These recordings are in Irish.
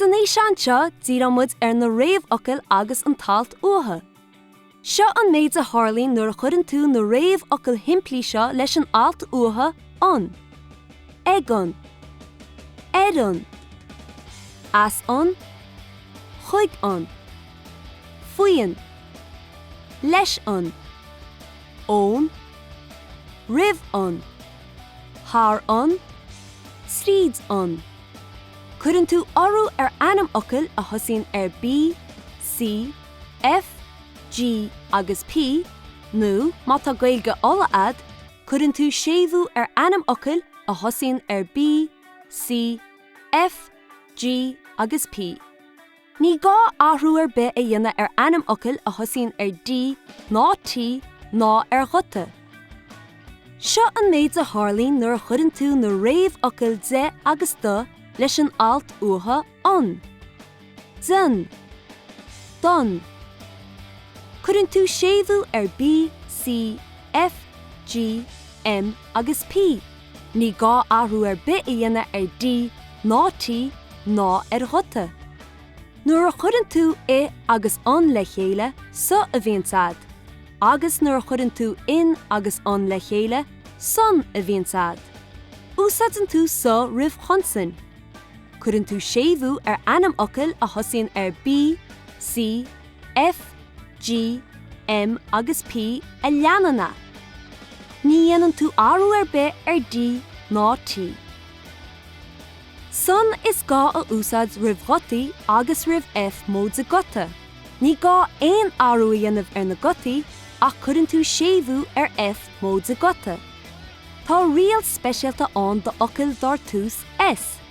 San fhíseán seo, díreoidh muid ar na réamhfhocail agus an t-alt uathu. Seo an méid a tharlaíonn nuair a chuireann tú na réamhfhocail shimplí seo leis an alt uathu, an, ag an, ar an, as an, chuig an. faoin, leis an, ón, roimh an, thar an, tríd an. Cuireann tú urú ar ainmfhocail a thosaíonn ar B, C, F, G agus P nó, má tá Gaeilge Uladh agat, cuireann tú séimhiú ar ainmfhocail a thosaíonn ar B, C, F, G agus P. Ní gá athrú ar bith a dhéanamh ar ainmfhocail a thosaíonn ar D ná T ná ar ghuta. Seo an méid a tharlaíonn nuair a chuireann tú na réamhfhocail de agus do leis an alt uathu an. Den. Don. Cuireann tú séimhiú ar B, C, F, G, M agus P. Ní gá athrú ar bith a dhéanamh ar D ná T ná ar ghuta. Nuair a chuireann tú i agus an le chéile, sa a bhíonns agat, agus nuair a chuireann tú in agus an le chéile, san a bhíonns agat. Úsáideann tú sa roimh chonsain. Cuireann tú séimhiú ar ainmfhocail a thosaíonn ar B, C, F, G, M agus P a leanann é. Ní dhéanann tú athrú ar bith ar D ná T. San is gá a úsáid roimh ghutaí agus roimh F móide guta. Ní gá aon athrú a dhéanamh ar na gutaí ach cuireann tú séimhiú ar F móide guta. Tá riail speisialta ann d'fhocail dar tús S.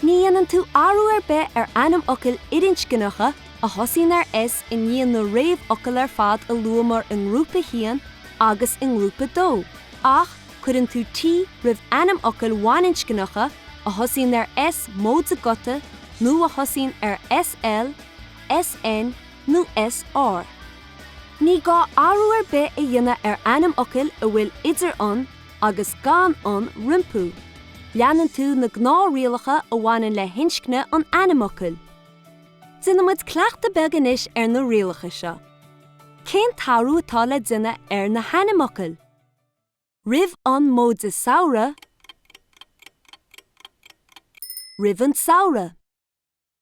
Ní dhéanann tú athrú ar bith ar ainmfhocail fhirinscneacha a thosaíonn ar S i ndiaidh na réamhfhocal ar fad a luamar i ngrúpa 1 agus i ngrúpa 2, ach cuireann tú T roimh ainmfhocail bhaininscneacha a thosaíonn ar S móide guta nó a thosaíonn ar SL, SN nó SR. Ní gá athrú ar bith a dhéanamh ar ainmfhocail a bhfuil idir an, agus gan an rompu. Leanann tú na gnáth-rialacha a bhaineann le hinscne an ainmfhocail. Déanaimis cleachtadh beag anois ar na rialacha seo. Cén t-athrú atá le déanamh ar na hainmfhocail? roimh an móide samhradh roimh an samhradh.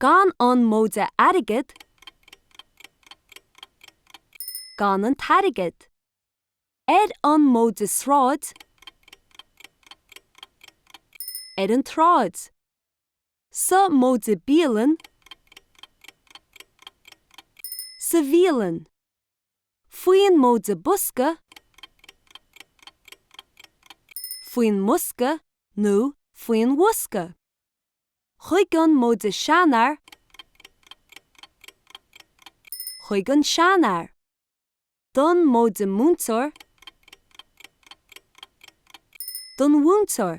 Gan an móide airgead, gan an t-airgead. Ar an móide sráid, ar an tsráid. Sa móide bialann, sa bhialann. Faoin móide bosca, faoin mbosca nó faoin bhosca. chuig an móide seanfhear chuig an seanfhear don móide múinteoir don mhúinteoir.